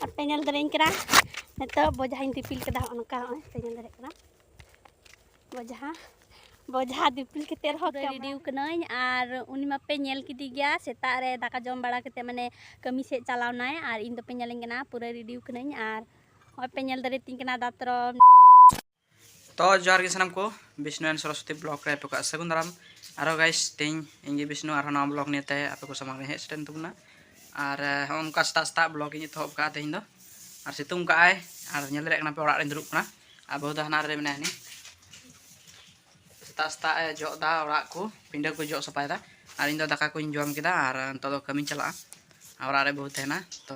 ᱟᱯᱮ ᱧᱮᱞ ᱫᱟᱲᱮᱭᱟᱹᱧ ᱠᱟᱱᱟ ᱱᱤᱛᱚᱜ ᱵᱚᱡᱷᱟᱧ ᱫᱤᱯᱤᱞ ᱠᱮᱫᱟ ᱦᱚᱸᱜᱼᱚ ᱱᱚᱝᱠᱟ ᱦᱚᱸᱜᱼᱚᱭ ᱯᱮ ᱧᱮᱞ ᱫᱟᱲᱮᱭᱟᱜ ᱠᱟᱱᱟ ᱵᱚᱡᱷᱟ ᱵᱚᱡᱷᱟ ᱫᱤᱯᱤᱞ ᱠᱟᱛᱮ ᱨᱮᱦᱚᱸ ᱨᱮᱰᱤ ᱠᱟᱹᱱᱟᱹᱧ ᱟᱨ ᱩᱱᱤ ᱢᱟᱯᱮ ᱧᱮᱞ ᱠᱮᱫᱮ ᱜᱮᱭᱟ ᱥᱮᱛᱟᱜ ᱨᱮ ᱫᱟᱠᱟ ᱡᱚᱢ ᱵᱟᱲᱟ ᱠᱟᱛᱮ ᱢᱟᱱᱮ ᱠᱟᱹᱢᱤ ᱥᱮᱫ ᱪᱟᱞᱟᱣᱱᱟᱭ ᱟᱨ ᱤᱧ ᱫᱚᱯᱮ ᱧᱮᱞᱤᱧ ᱠᱟᱱᱟ ᱯᱩᱨᱟᱹ ᱨᱮᱰᱤ ᱠᱟᱹᱱᱟᱹᱧ ᱟᱨ ᱦᱚᱸᱜᱼᱚᱭ ᱯᱮ ᱧᱮᱞ ᱫᱟᱲᱮᱭᱟᱛᱤᱧ ᱠᱟᱱᱟ ᱫᱟᱛᱨᱚᱢ ᱛᱚ ᱡᱚᱦᱟᱨ ᱜᱮ ᱥᱟᱱᱟᱢ ᱠᱚ ᱵᱤᱥᱱᱩ ᱮᱱ ᱥᱚᱨᱚᱥᱚᱛᱤ ᱵᱞᱚᱜ ᱨᱮ ᱟᱯᱮ ᱠᱚᱣᱟᱜ ᱥᱟᱹᱜᱩᱱ ᱫᱟᱨᱟᱢ ᱟᱨᱦᱚᱸ ᱜᱟᱭᱤᱥ ᱛᱮᱦᱮᱧ ᱤᱧ ᱜᱮ ᱵᱤᱥᱱᱩ ᱟᱨᱦᱚᱸ ᱱᱟᱣᱟ ᱵᱞᱚᱜ ᱱᱤᱭᱮ ᱛᱮ ᱟᱯᱮ ᱠᱚ ᱥᱟᱢᱟᱝ ᱨᱮ ᱦᱮᱡ ᱥᱮᱴᱮᱨ ᱛᱟᱵᱚᱱᱟ ᱟᱨ ᱦᱚᱸ ᱚᱱᱠᱟ ᱥᱮᱛᱟᱜ ᱥᱮᱛᱟᱜ ᱵᱞᱚᱜ ᱤᱧ ᱮᱛᱚᱦᱚᱵ ᱠᱟᱜᱼᱟ ᱛᱮᱦᱮᱧ ᱫᱚ ᱟᱨ ᱥᱤᱛᱩᱝ ᱠᱟᱜᱼᱟᱭ ᱟᱨ ᱧᱮᱞ ᱫᱟᱲᱮᱭᱟᱜ ᱠᱟᱱᱟ ᱯᱮ ᱚᱲᱟᱜ ᱨᱮᱧ ᱫᱩᱲᱩᱵ ᱠᱟᱱᱟ ᱟᱨ ᱵᱟᱹᱦᱩ ᱫᱚ ᱦᱟᱱᱟ ᱨᱮ ᱢᱮᱱᱟᱭᱟ ᱦᱟᱹᱱᱤ ᱥᱮᱛᱟᱜ ᱥᱮᱛᱟᱜ ᱮ ᱡᱚᱜ ᱮᱫᱟ ᱚᱲᱟᱜ ᱠᱚ ᱯᱤᱸᱰᱟᱹ ᱠᱚ ᱡᱚᱜ ᱥᱟᱯᱷᱟᱭᱮᱫᱟ ᱟᱨ ᱤᱧ ᱫᱚ ᱫᱟᱠᱟ ᱠᱚᱧ ᱡᱚᱢ ᱠᱮᱫᱟ ᱟᱨ ᱱᱤᱛᱚᱜ ᱫᱚ ᱠᱟᱹᱢᱤᱧ ᱪᱟᱞᱟᱜᱼᱟ ᱚᱲᱟᱜ ᱨᱮ ᱵᱟᱹᱦᱩ ᱛᱟᱦᱮᱱᱟ ᱛᱚ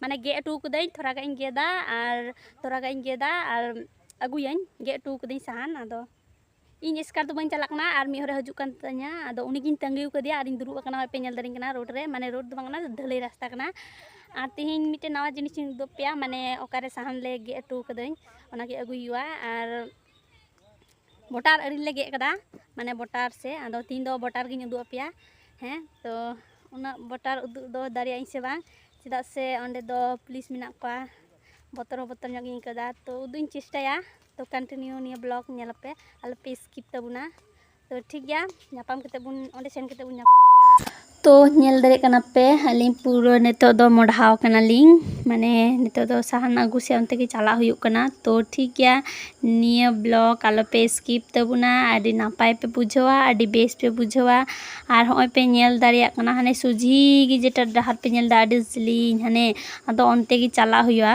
ᱢᱟᱱᱮ ᱜᱮᱫ ᱚᱴᱚ ᱠᱟᱹᱫᱟᱹᱧ ᱛᱷᱚᱲᱟ ᱜᱟᱱ ᱤᱧ ᱜᱮᱫᱟ ᱟᱨ ᱛᱷᱚᱲᱟ ᱜᱟᱱ ᱤᱧ ᱜᱮᱫᱟ ᱟᱨ ᱟᱹᱜᱩᱭᱟᱹᱧ ᱜᱮᱫ ᱚᱴᱚ ᱠᱟᱹᱫᱟᱹᱧ ᱥᱟᱦᱟᱱ ᱟᱫᱚ ᱤᱧ ᱮᱥᱠᱟᱨ ᱫᱚ ᱵᱟᱹᱧ ᱪᱟᱞᱟᱜ ᱠᱟᱱᱟ ᱟᱨ ᱢᱤᱫ ᱦᱚᱲᱮ ᱦᱤᱡᱩᱜ ᱠᱟᱱ ᱛᱤᱧᱟ ᱟᱫᱚ ᱩᱱᱤ ᱜᱤᱧ ᱛᱟᱺᱜᱤ ᱟᱠᱟᱫᱮᱭᱟ ᱟᱨᱤᱧ ᱫᱩᱲᱩᱵ ᱟᱠᱟᱱᱟ ᱱᱚᱜᱼᱚᱭ ᱯᱮ ᱧᱮᱞ ᱫᱟᱲᱮᱧ ᱠᱟᱱᱟ ᱨᱳᱰ ᱨᱮ ᱢᱟᱱᱮ ᱨᱳᱰ ᱫᱚ ᱵᱟᱝ ᱠᱟᱱᱟ ᱰᱷᱟᱹᱞᱟᱹᱭ ᱨᱟᱥᱛᱟ ᱠᱟᱱᱟ ᱟᱨ ᱛᱮᱦᱮᱧ ᱢᱤᱫᱴᱮᱱ ᱱᱟᱣᱟ ᱡᱤᱱᱤᱥ ᱤᱧ ᱩᱫᱩᱜ ᱟᱯᱮᱭᱟ ᱢᱟᱱᱮ ᱚᱠᱟᱨᱮ ᱥᱟᱦᱟᱱ ᱞᱮ ᱜᱮᱫ ᱚᱴᱚ ᱠᱟᱹᱫᱟᱹᱧ ᱚᱱᱟᱜᱮ ᱟᱹᱜᱩᱭ ᱦᱩᱭᱩᱜᱼᱟ ᱟᱨ ᱵᱚᱴᱟᱨ ᱟᱹᱨᱤ ᱞᱮ ᱜᱮᱫ ᱠᱟᱫᱟ ᱢᱟᱱᱮ ᱵᱚᱴᱟᱨ ᱥᱮ ᱟᱫᱚ ᱛᱤᱦᱤᱧ ᱫᱚ ᱵᱚᱴᱟᱨ ᱜᱤᱧ ᱩᱫᱩᱜ ᱟᱯᱮᱭᱟ ᱦᱮᱸ ᱛᱚ ᱩᱱᱟᱹᱜ ᱵᱚᱴᱟᱨ ᱩᱫᱩᱜ ᱫᱚ ᱫᱟᱲᱮᱭᱟᱜ ᱟᱹᱧ ᱥᱮ ᱵᱟᱝ ᱪᱮᱫᱟᱜ ᱥᱮ ᱚᱸᱰᱮ ᱫᱚ ᱯᱩᱞᱤᱥ ᱢᱮᱱᱟᱜ ᱠᱚᱣᱟ ᱵᱚᱛᱚᱨ ᱦᱚᱸ ᱵᱚᱛᱚᱨ ᱧᱚᱜ ᱜᱤᱧ ᱟᱹᱭᱠᱟᱹᱣᱫᱟ ᱛᱚ ᱩᱫᱩᱜ ᱤᱧ ᱪᱮᱥᱴᱟᱭᱟ ᱛᱚ ᱠᱚᱱᱴᱤᱱᱤᱭᱩ ᱱᱤᱭᱟᱹ ᱵᱞᱚᱜᱽ ᱧᱮᱞ ᱯᱮ ᱟᱞᱚᱯᱮ ᱥᱠᱤᱯ ᱛᱟᱵᱚᱱᱟ ᱛᱚ ᱴᱷᱤᱠ ᱜᱮᱭᱟ ᱧᱟᱯᱟᱢ ᱠᱟᱛᱮ ᱵᱚᱱ ᱚᱸᱰᱮ ᱥᱮᱱ ᱠᱟᱛᱮ ᱵᱚᱱ ᱧᱟᱯᱟᱢ ᱛᱚ ᱧᱮᱞ ᱫᱟᱲᱮᱭᱟᱜ ᱠᱟᱱᱟ ᱯᱮ ᱟᱹᱞᱤᱧ ᱯᱩᱨᱟᱹ ᱱᱤᱛᱚᱜ ᱫᱚ ᱢᱚᱰᱷᱟᱣ ᱠᱟᱱᱟᱞᱤᱧ ᱢᱟᱱᱮ ᱱᱤᱛᱚᱜ ᱫᱚ ᱥᱟᱦᱟᱱ ᱟᱹᱜᱩ ᱥᱮ ᱚᱱᱛᱮ ᱜᱮ ᱪᱟᱞᱟᱜ ᱦᱩᱭᱩᱜ ᱠᱟᱱᱟ ᱛᱚ ᱴᱷᱤᱠ ᱜᱮᱭᱟ ᱱᱤᱭᱟᱹ ᱵᱞᱚᱜ ᱟᱞᱚᱯᱮ ᱥᱠᱤᱯ ᱛᱟᱵᱚᱱᱟ ᱟᱹᱰᱤ ᱱᱟᱯᱟᱭ ᱯᱮ ᱵᱩᱡᱷᱟᱹᱣᱟ ᱟᱹᱰᱤ ᱵᱮᱥ ᱯᱮ ᱵᱩᱡᱷᱟᱹᱣᱟ ᱟᱨ ᱦᱚᱸᱜᱼᱚᱭ ᱯᱮ ᱧᱮᱞ ᱫᱟᱲᱮᱭᱟᱜ ᱠᱟᱱᱟ ᱦᱟᱱᱮ ᱥᱚᱡᱷᱮ ᱜᱮ ᱡᱮᱴᱟ ᱰᱟᱦᱟᱨ ᱯᱮ ᱧᱮᱞᱫᱟ ᱟᱹᱰᱤ ᱡᱤᱞᱤᱧ ᱦᱟᱱᱮ ᱟᱫᱚ ᱚᱱᱛᱮ ᱜᱮ ᱪᱟᱞᱟᱜ ᱦᱩᱭᱩᱜᱼᱟ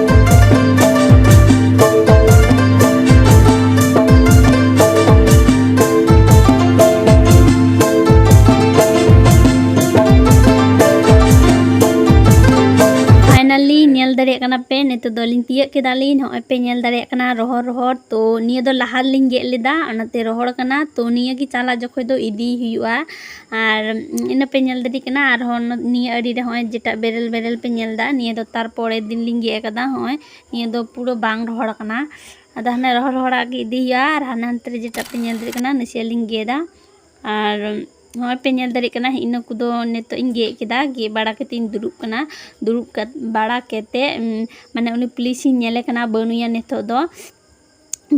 ᱱᱤᱛᱚᱜ ᱫᱚᱞᱤᱧ ᱛᱤᱭᱟᱹᱜ ᱠᱮᱫᱟᱞᱤᱧ ᱱᱚᱜᱼᱚᱭ ᱯᱮ ᱧᱮᱞ ᱫᱟᱲᱮᱭᱟᱜ ᱠᱟᱱᱟ ᱨᱚᱦᱚᱲ ᱨᱚᱦᱚᱲ ᱛᱚ ᱱᱤᱭᱟᱹ ᱫᱚ ᱞᱟᱦᱟ ᱨᱮᱞᱤᱧ ᱜᱮᱫ ᱞᱮᱫᱟ ᱚᱱᱟᱛᱮ ᱨᱚᱦᱚᱲ ᱠᱟᱱᱟ ᱛᱚ ᱱᱤᱭᱟᱹ ᱜᱮ ᱪᱟᱞᱟᱜ ᱡᱚᱠᱷᱚᱡ ᱫᱚ ᱤᱫᱤᱭ ᱦᱩᱭᱩᱜᱼᱟ ᱟᱨ ᱤᱱᱟᱹ ᱯᱮ ᱧᱮᱞ ᱫᱟᱲᱮᱭᱟᱜ ᱠᱟᱱᱟ ᱟᱨᱦᱚᱸ ᱱᱤᱭᱟᱹ ᱟᱲᱮ ᱨᱮ ᱦᱚᱸᱜᱼᱚᱭ ᱡᱮᱴᱟ ᱵᱮᱨᱮᱞ ᱵᱮᱨᱮᱞ ᱯᱮ ᱧᱮᱞ ᱮᱫᱟ ᱱᱤᱭᱟᱹ ᱫᱚ ᱛᱟᱨᱯᱚᱨᱮᱨ ᱫᱤᱱ ᱞᱤᱧ ᱜᱮᱫ ᱟᱠᱟᱫᱟ ᱦᱚᱸᱜᱼᱚᱭ ᱱᱤᱭᱟᱹ ᱫᱚ ᱯᱩᱨᱟᱹ ᱵᱟᱝ ᱨᱚᱦᱚᱲ ᱟᱠᱟᱱᱟ ᱟᱫᱚ ᱦᱟᱱᱮ ᱨᱚᱦᱚᱲ ᱨᱚᱦᱚᱲᱟᱜ ᱜᱮ ᱤᱫᱤ ᱦᱩᱭᱩᱜᱼᱟ ᱟᱨ ᱦᱟᱱᱮ ᱦᱟᱱᱛᱮ ᱨᱮ ᱡᱮᱴᱟ ᱯᱮ ᱧᱮᱞ ᱫᱟᱲᱮᱭᱟᱜ ᱠᱟᱱᱟ ᱱᱟᱥᱮᱭᱟᱜ ᱞᱤᱧ ᱜᱮᱫᱟ ᱟᱨ ᱦᱚᱸᱜᱼᱚᱭ ᱯᱮ ᱧᱮᱞ ᱫᱟᱲᱮᱭᱟᱜ ᱠᱟᱱᱟ ᱤᱱᱟᱹ ᱠᱚᱫᱚ ᱱᱤᱛᱚᱜ ᱤᱧ ᱜᱮᱫ ᱠᱮᱫᱟ ᱜᱮᱫ ᱵᱟᱲᱟ ᱠᱟᱛᱮᱫ ᱤᱧ ᱫᱩᱲᱩᱵ ᱠᱟᱱᱟ ᱫᱩᱲᱩᱵ ᱵᱟᱲᱟ ᱠᱟᱛᱮᱫ ᱢᱟᱱᱮ ᱩᱱᱤ ᱯᱩᱞᱤᱥᱤᱧ ᱧᱮᱞᱮ ᱠᱟᱱᱟ ᱵᱟᱹᱱᱩᱭᱟ ᱱᱤᱛᱚᱜ ᱫᱚ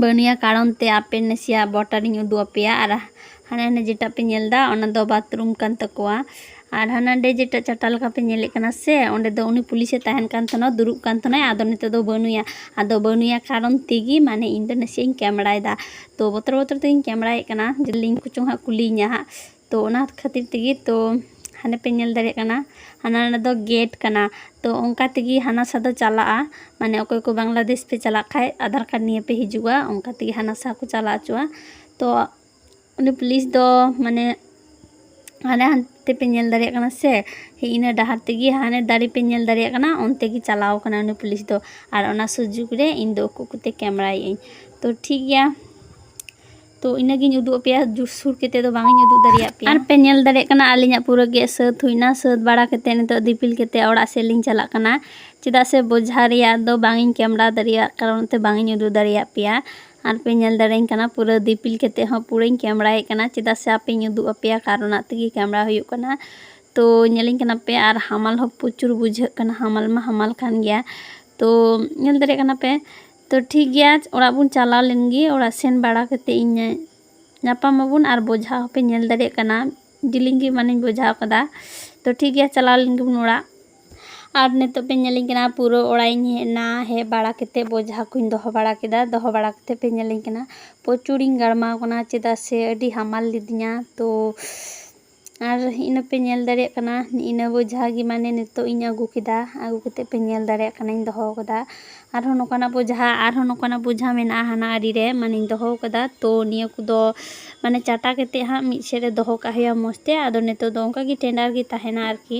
ᱵᱟᱹᱱᱩᱭᱟ ᱠᱟᱨᱚᱱ ᱛᱮ ᱟᱯᱮ ᱱᱟᱥᱮᱭᱟᱜ ᱵᱚᱴᱟᱨ ᱤᱧ ᱩᱫᱩᱜ ᱟᱯᱮᱭᱟ ᱟᱨ ᱦᱟᱱᱮ ᱦᱟᱸᱰᱮ ᱡᱮᱴᱟ ᱯᱮ ᱧᱮᱞ ᱮᱫᱟ ᱚᱱᱟ ᱫᱚ ᱵᱟᱛᱷᱨᱩᱢ ᱠᱟᱱ ᱛᱟᱠᱚᱣᱟ ᱟᱨ ᱦᱟᱱᱮ ᱦᱟᱸᱰᱮ ᱡᱮᱴᱟ ᱪᱟᱴᱟ ᱞᱮᱠᱟ ᱯᱮ ᱧᱮᱞᱮᱫ ᱠᱟᱱᱟ ᱥᱮ ᱚᱸᱰᱮ ᱫᱚ ᱩᱱᱤ ᱯᱩᱞᱤᱥᱮ ᱛᱟᱦᱮᱱ ᱠᱟᱱ ᱛᱟᱦᱮᱱᱟ ᱫᱩᱲᱩᱵ ᱠᱟᱱ ᱛᱟᱦᱮᱱᱟᱭ ᱟᱫᱚ ᱱᱤᱛᱚᱜ ᱫᱚ ᱵᱟᱹᱱᱩᱭᱟ ᱟᱫᱚ ᱵᱟᱹᱱᱩᱭᱟ ᱠᱟᱨᱚᱱ ᱛᱮᱜᱮ ᱢᱟᱱᱮ ᱤᱧ ᱫᱚ ᱱᱟᱥᱮᱭᱟᱜ ᱤᱧ ᱠᱮᱢᱮᱨᱟᱭᱮᱫᱟ ᱛᱚ ᱵᱚᱛᱚᱨ ᱵᱚᱛᱚᱨ ᱛᱮᱜᱤᱧ ᱠᱮᱢᱮᱨᱟᱭᱮᱫ ᱠᱟᱱᱟ ᱡᱩᱫᱤ ᱞᱤᱝᱠ ᱠᱚᱪᱚᱝ ᱦᱟᱸᱜ ᱠᱩᱞᱤᱭᱤᱧᱟ ᱦᱟᱸᱜ ᱛᱚ ᱚᱱᱟ ᱠᱷᱟᱹᱛᱤᱨ ᱛᱮᱜᱮ ᱛᱚ ᱦᱟᱸᱰᱮ ᱯᱮ ᱧᱮᱞ ᱫᱟᱲᱮᱭᱟᱜ ᱠᱟᱱᱟ ᱦᱟᱱᱟ ᱱᱟᱰᱮ ᱫᱚ ᱜᱮᱴ ᱠᱟᱱᱟ ᱛᱚ ᱚᱱᱠᱟ ᱛᱮᱜᱮ ᱦᱟᱱᱟ ᱥᱟ ᱫᱚ ᱪᱟᱞᱟᱜᱼᱟ ᱢᱟᱱᱮ ᱚᱠᱚᱭ ᱠᱚ ᱵᱟᱝᱞᱟᱫᱮᱥ ᱯᱮ ᱪᱟᱞᱟᱜ ᱠᱷᱟᱡ ᱟᱫᱷᱟᱨ ᱠᱟᱨᱰ ᱱᱤᱭᱮ ᱯᱮ ᱦᱤᱡᱩᱜᱼᱟ ᱚᱱᱠᱟ ᱛᱮᱜᱮ ᱦᱟᱱᱟ ᱥᱟ ᱠᱚ ᱪᱟᱞᱟᱣ ᱚᱪᱚᱜᱼᱟ ᱛᱚ ᱩᱱᱤ ᱯᱩᱞᱤᱥ ᱫᱚ ᱢᱟᱱᱮ ᱦᱟᱱᱮ ᱦᱟᱱᱛᱮ ᱯᱮ ᱧᱮᱞ ᱫᱟᱲᱮᱭᱟᱜ ᱠᱟᱱᱟ ᱥᱮ ᱦᱮᱸ ᱤᱱᱟᱹ ᱰᱟᱦᱟᱨ ᱛᱮᱜᱮ ᱦᱟᱱᱮ ᱫᱟᱨᱮ ᱯᱮ ᱧᱮᱞ ᱫᱟᱲᱮᱭᱟᱜ ᱠᱟᱱᱟ ᱚᱱᱛᱮ ᱜᱮ ᱪᱟᱞᱟᱣ ᱠᱟᱱᱟ ᱩᱱᱤ ᱯᱩᱞᱤᱥ ᱫᱚ ᱟᱨ ᱚᱱᱟ ᱥᱩᱡᱳᱜᱽ ᱨᱮ ᱤᱧ ᱫᱚ ᱩᱠᱩ ᱩᱠᱩᱛᱮ ᱠᱮᱢᱮᱨᱟᱭᱮᱫ ᱟᱹᱧ ᱛᱚ ᱴᱷᱤᱠ ᱜᱮᱭᱟ ᱛᱚ ᱤᱱᱟᱹᱜᱤᱧ ᱩᱫᱩᱜ ᱟᱯᱮᱭᱟ ᱡᱩᱨ ᱥᱩᱨ ᱠᱟᱛᱮ ᱫᱚ ᱵᱟᱝ ᱤᱧ ᱩᱫᱩᱜ ᱫᱟᱲᱮᱭᱟᱜ ᱯᱮᱭᱟ ᱟᱨ ᱯᱮ ᱧᱮᱞ ᱫᱟᱲᱮᱭᱟᱜ ᱠᱟᱱᱟ ᱟᱹᱞᱤᱧᱟᱜ ᱯᱩᱨᱟᱹ ᱜᱮ ᱥᱟᱹᱛ ᱦᱩᱭᱱᱟ ᱥᱟᱹᱛ ᱵᱟᱲᱟ ᱠᱟᱛᱮ ᱱᱤᱛᱚᱜ ᱫᱤᱯᱤᱞ ᱠᱟᱛᱮ ᱚᱲᱟᱜ ᱥᱮᱫ ᱞᱤᱧ ᱪᱟᱞᱟᱜ ᱠᱟᱱᱟ ᱪᱮᱫᱟᱜ ᱥᱮ ᱵᱚᱡᱷᱟ ᱨᱮᱭᱟᱜ ᱫᱚ ᱵᱟᱝ ᱤᱧ ᱠᱮᱢᱮᱨᱟ ᱫᱟᱲᱮᱭᱟᱜ ᱠᱟᱨᱚᱱ ᱛᱮ ᱵᱟᱝ ᱤᱧ ᱩᱫᱩᱜ ᱫᱟᱲᱮᱭᱟᱜ ᱯᱮᱭᱟ ᱟᱨ ᱯᱮ ᱧᱮᱞ ᱫᱟᱲᱮᱭᱟᱹᱧ ᱠᱟᱱᱟ ᱯᱩᱨᱟᱹ ᱫᱤᱯᱤᱞ ᱠᱟᱛᱮ ᱦᱚᱸ ᱯᱩᱨᱟᱹᱧ ᱠᱮᱢᱮᱨᱟᱭᱮᱫ ᱠᱟᱱᱟ ᱪᱮᱫᱟᱜ ᱥᱮ ᱟᱯᱮᱧ ᱩᱫᱩᱜ ᱟᱯᱮᱭᱟ ᱠᱟᱨᱚᱱᱟᱜ ᱛᱮᱜᱮ ᱠᱮᱢᱮᱨᱟ ᱦᱩᱭᱩᱜ ᱠᱟᱱᱟ ᱛᱚ ᱧᱮᱞᱤᱧ ᱠᱟᱱᱟ ᱯᱮ ᱟᱨ ᱦᱟᱢᱟᱞ ᱦᱚᱸ ᱯᱨᱚᱪᱩᱨ ᱵᱩᱡᱷᱟᱹᱜ ᱠᱟᱱᱟ ᱦᱟᱢᱟᱞ ᱢᱟ ᱦᱟᱢᱟᱞ ᱠᱟᱱ ᱜᱮᱭᱟ ᱛᱚ ᱧᱮᱞ ᱫᱟᱲᱮᱭᱟᱜ ᱠᱟᱱᱟ ᱯᱮ ᱛᱚ ᱴᱷᱤᱠ ᱜᱮᱭᱟ ᱚᱲᱟᱜ ᱵᱚᱱ ᱪᱟᱞᱟᱣ ᱞᱮᱱ ᱜᱮ ᱚᱲᱟᱜ ᱥᱮᱱ ᱵᱟᱲᱟ ᱠᱟᱛᱮ ᱤᱧ ᱧᱟᱯᱟᱢ ᱟᱵᱚᱱ ᱟᱨ ᱵᱚᱡᱷᱟ ᱦᱚᱸᱯᱮ ᱧᱮᱞ ᱫᱟᱲᱮᱭᱟᱜ ᱠᱟᱱᱟ ᱡᱤᱞᱤᱧ ᱜᱮ ᱢᱟᱱᱮᱧ ᱵᱚᱡᱷᱟ ᱟᱠᱟᱫᱟ ᱛᱚ ᱴᱷᱤᱠ ᱜᱮᱭᱟ ᱪᱟᱞᱟᱣ ᱞᱮᱱ ᱜᱮᱵᱚᱱ ᱚᱲᱟᱜ ᱟᱨ ᱱᱤᱛᱚᱜ ᱯᱮ ᱧᱮᱞᱤᱧ ᱠᱟᱱᱟ ᱯᱩᱨᱟᱹ ᱚᱲᱟᱜ ᱤᱧ ᱦᱮᱡ ᱮᱱᱟ ᱦᱮᱡ ᱵᱟᱲᱟ ᱠᱟᱛᱮ ᱵᱚᱡᱷᱟ ᱠᱚᱧ ᱫᱚᱦᱚ ᱵᱟᱲᱟ ᱠᱮᱫᱟ ᱫᱚᱦᱚ ᱵᱟᱲᱟ ᱠᱟᱛᱮ ᱯᱮ ᱧᱮᱞᱤᱧ ᱠᱟᱱᱟ ᱯᱨᱚᱪᱩᱨᱤᱧ ᱜᱟᱲᱢᱟᱣ ᱠᱟᱱᱟ ᱪᱮᱫᱟᱜ ᱥᱮ ᱟᱹᱰᱤ ᱦᱟᱢᱟᱞ ᱞᱤᱫᱤᱧᱟ ᱛᱚ ᱟᱨ ᱤᱱᱟᱹ ᱯᱮ ᱧᱮᱞ ᱫᱟᱲᱮᱭᱟᱜ ᱠᱟᱱᱟ ᱤᱱᱟᱹ ᱵᱚᱡᱷᱟ ᱜᱮ ᱢᱟᱱᱮ ᱱᱤᱛᱚᱜ ᱤᱧ ᱟᱹᱜᱩ ᱠᱮᱫᱟ ᱟᱹᱜᱩ ᱠᱟᱛᱮ ᱯᱮ ᱧᱮᱞ ᱫᱟᱲᱮᱭᱟᱜ ᱠᱟᱱᱟᱧ ᱫᱚᱦᱚ ᱠᱟᱫᱟ ᱟᱨᱦᱚᱸ ᱱᱚᱝᱠᱟᱱᱟᱜ ᱵᱚᱡᱷᱟ ᱟᱨᱦᱚᱸ ᱱᱚᱝᱠᱟᱱᱟᱜ ᱵᱚᱡᱷᱟ ᱢᱮᱱᱟᱜᱼᱟ ᱦᱟᱱᱟ ᱟᱲᱮ ᱨᱮ ᱢᱟᱱᱮᱧ ᱫᱚᱦᱚ ᱠᱟᱫᱟ ᱛᱚ ᱱᱤᱭᱟᱹ ᱠᱚᱫᱚ ᱢᱟᱱᱮ ᱪᱟᱴᱟ ᱠᱟᱛᱮ ᱦᱟᱸᱜ ᱢᱤᱫ ᱥᱮᱡ ᱨᱮ ᱫᱚᱦᱚ ᱠᱟᱜ ᱦᱩᱭᱩᱜᱼᱟ ᱢᱚᱡᱽ ᱛᱮ ᱟᱫᱚ ᱱᱤᱛᱚᱜ ᱫᱚ ᱚᱱᱠᱟ ᱜᱮ ᱴᱮᱸᱰᱟᱨ ᱜᱮ ᱛᱟᱦᱮᱱᱟ ᱟᱨᱠᱤ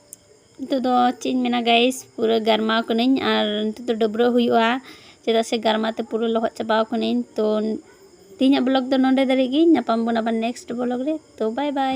ᱱᱤᱛᱚᱜ ᱫᱚ ᱪᱮᱫ ᱤᱧ ᱢᱮᱱᱟ ᱜᱟᱭᱤᱥ ᱯᱩᱨᱟᱹ ᱜᱟᱨᱢᱟᱣ ᱠᱟᱹᱱᱟᱹᱧ ᱟᱨ ᱱᱤᱛᱚᱜ ᱫᱚ ᱰᱟᱹᱵᱽᱨᱟᱹᱜ ᱦᱩᱭᱩᱜᱼᱟ ᱪᱮᱫᱟᱜ ᱥᱮ ᱜᱟᱨᱢᱟᱣ ᱛᱮ ᱯᱩᱨᱟᱹ ᱞᱚᱦᱚᱫ ᱪᱟᱵᱟᱣ ᱠᱟᱹᱱᱟᱹᱧ ᱛᱚ ᱛᱮᱦᱮᱧᱟᱜ ᱵᱞᱚᱜᱽ ᱫᱚ ᱱᱚᱸᱰᱮ ᱫᱷᱟᱹᱨᱤᱡ ᱜᱮ ᱧᱟᱯᱟᱢ ᱵᱚᱱ ᱟᱵᱟᱨ ᱱᱮᱠᱥᱴ ᱵᱞᱚᱜᱽ ᱨᱮ ᱛᱚ ᱵᱟᱭ ᱵᱟᱭ